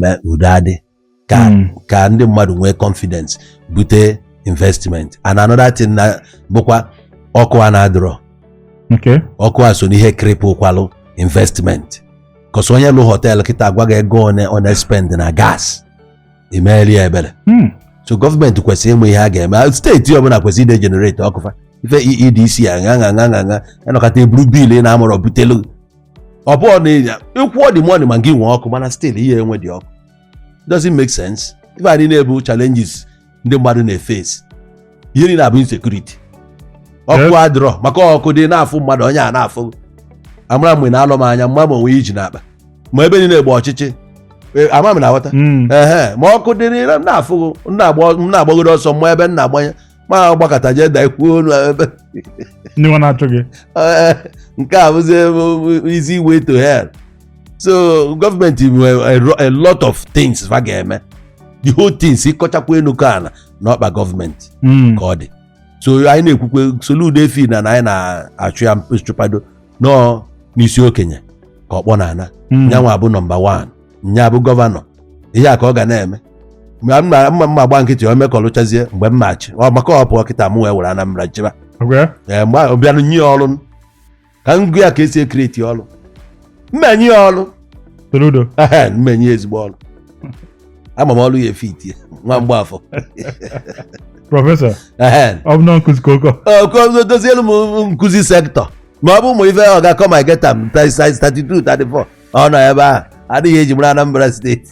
mee udo adị ka Mm. ka ndị mmadụ nwee confidence bute investment and another thing na bụkwa ọkụ a na-adịrọ Okay. ọkụ a so n'ihe cripple kwalụ investment 'cause onye lụ hotel kịta agwa gị ego one ọ na-espend na gas i meeli ya ebere Mm. so gọọmenti kwesịrị ịma ihe a ga-eme steeti ọbụla kwesịrị ide generate ọkụ fa ife EEDC a ṅa ṅa ṅa ṅa ṅa anọkata eburu bill ị na-amụrọ butelu ọ bụ ọ na-enye ịkwụọ the money ma gị nwee ọkụ mana still i nwedị ọkụ doesn't make sense ife ndị a bụ challenges ndị mmadụ na-eface ihe niile a bụ insecurity ọkụ adịrọ maka ọkụ dị na-afụ mmadụ onye a na-afụ amara mgbe ọ na-ele m anya m ma ma o nwe ihe o ji n'akpa ma ebe niile gba ọchịchị e, ama m na-aghọta Mm. ehe ma ọkụ dịrị na- m na-afụghị m na-agba- m na-agbagoro ọsọ m ma ebe m na-agbanye ma agbakata jee dakwuo ọnụ ebe ndị nwa na-achụ gị Eh, nke a bụzi easy way to hell so gọọmenti nwere a ro- a lot of things fa ga-eme the whole things ị kọchakwa enu kọọ ana n'ọkpa gọọmenti Mm. ka ọ dị so anyị na-ekwukwe Soludo efi na na anyị na-achụ ya nchụpado no ọ n'isi okenye ka ọkpọ na-ana Mm. nya nwa bụ nọmba 1 nya bụ gọvanọ ihe a ka ọ ga na-eme mgbe m ma m ma m ma gba nkịtị o mekọlụchazie mgbe m na-achị ọ maka ọ pụọ kịta mụ wee were Anambra chịba Okay. ee mgbe ahụ bịanụ nye ya ọrụ ka m gwa ya ka esi e-create ọrụ m enye ya ọrụ Soludo. Ehe, m enye ya ezigbo ọrụ ama m ọrụ ya-efit ie nwa Mgbafọ Prọfesọ. Ehe. Ọ bụ na nkụzi ka ụkọ. Okozo dozielu m nkụzi sector ma ọ bụ ụmụ ife ọ ga-akọ ma geta m 32 34 ọ nọ ebe ahụ adịghị eji mara Anambra steeti